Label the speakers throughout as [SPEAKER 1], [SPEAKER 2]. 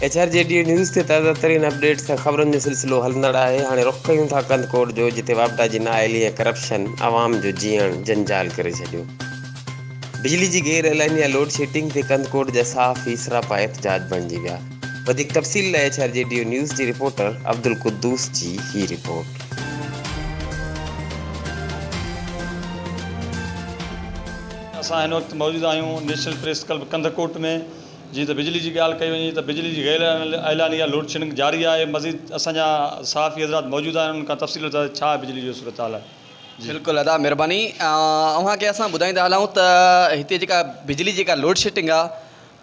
[SPEAKER 1] H R G D news تي تازه ترين اپ ڊيٽ سان خبرن جو سلسلو هلندڙ آهي هاڻي رخ ڪيون ٿا ڪنڌڪوٽ جو جتي واپڊا جي نااهلي ۽ ڪرپشن عوام جو جيئڻ جنجال ڪري ڇڏيو بجلي جي غير اعلانيه لوڊشيٽنگ تي ڪنڌڪوٽ جا صحافي سراپا احتجاج بڻجي ويا وڌيڪ تفصيل لاء H R G D news جي رپورٽر عبدالقدوس جي هي رپورٽ.
[SPEAKER 2] اسان هن وقت موجود آهيون نيشنل پريس ڪلب ڪنڌڪوٽ ۾ جيئن ته بجلي جي ڳالهه ڪئي وڃي ته بجلي جي غير اعلانيه لوڊ شيڊنگ جاري آهي مزيد اسان جا صحافي حضرات موجود آهن انهن کان تفصيل ورتا ته ڇا آهي بجلي جو صورتحال جي. بلڪل ادا مھرباني
[SPEAKER 3] اوھان کي اسان ٻڌائيندا ھلائون ته ھتي جيڪا بجلي جيڪا لوڊشيٽنگ آ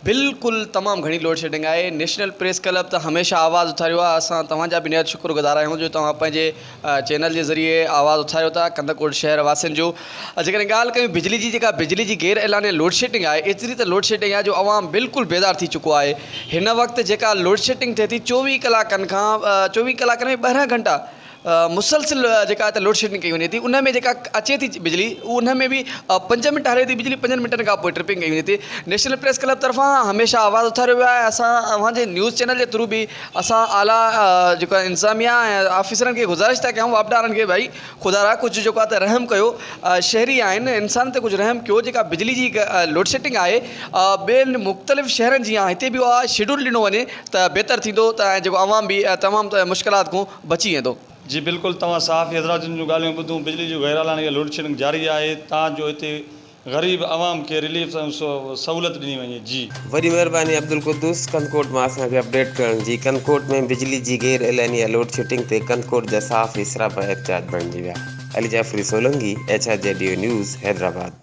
[SPEAKER 3] بلڪل تمام گهڻي لوڊ شيڊنگ آهي نيشنل پريس ڪلب ته هميشه آواز اٿاريو آهي اسان توهان جا به نهايت شڪر گذار آهيون جو توهان پنهنجي چينل جي ذريعي آواز اٿاريو ٿا ڪنڌڪوٽ شهر واسين جو جيڪڏهن ڳالهه ڪيون بجلي جي جيڪا بجلي جي غير اعلانيه لوڊ شيڊنگ آهي ايتري ته لوڊ شيڊنگ آهي جو عوام بلڪل بيدار ٿي چڪو آهي هن وقت جيڪا لوڊ شيڊنگ ٿئي ٿي چوويهه ڪلاڪن کان چوويهه ڪلاڪن ۾ ٻارهن گهنٽا مسلسل جيڪا اتي لوڊشيڊنگ ڪئي وڃي ٿي ان ۾ جيڪا اچي ٿي بجلي ھو ان ۾ بي پنج منٽ ھلي ٿي بجلي پنجن منٽن کان پوء ٽرپنگ ڪئي وڃي ٿي نيشنل پريس ڪلب طرفان ھميشا آواز اٿاريو ويو آھي اسان اوھان جي نيوز چينل جي ٿرو بي اسان اعليٰ جيڪا انظاميا ۽ آفيسرن کي گذارش ٿا ڪيون واپڊارن کي بھائي خدا را ڪجھ جيڪو آھي رحم ڪيو شھري آھن انسان تي ڪجھ رحم ڪيو جيڪا بجلي جي لوڊشيٽنگ آھي ٻين مختلف شھرن جيان ھتي بي اھا شيڊول ڏنو وڃي ته بھتر ٿيندو ته جيڪو عوام بي تمام مشڪلات کون بچي ويندو. جي بلڪل توهان
[SPEAKER 2] صحافي حضرات جن جون ڳالهيون ٻڌون بجلي جي غيراعلانيه لوڊشيڊنگ جاري آهي تان جو هتي غريب عوام کي رليف ۽ سهولت ڏني وڃي جي. وڏي مهرباني
[SPEAKER 1] عبدالقدوس ڪنڌڪوٽ مان اسان کي اپڊيٽ ڪرڻ جي ڪنڌڪوٽ ۾ بجلي جي غير اعلانيه لوڊ شيٽنگ تي ڪنڌڪوٽ جا صحافي سراپا احتجاج بڻجي ويا Ali Jafri Solangi H R G D news Hyderabad.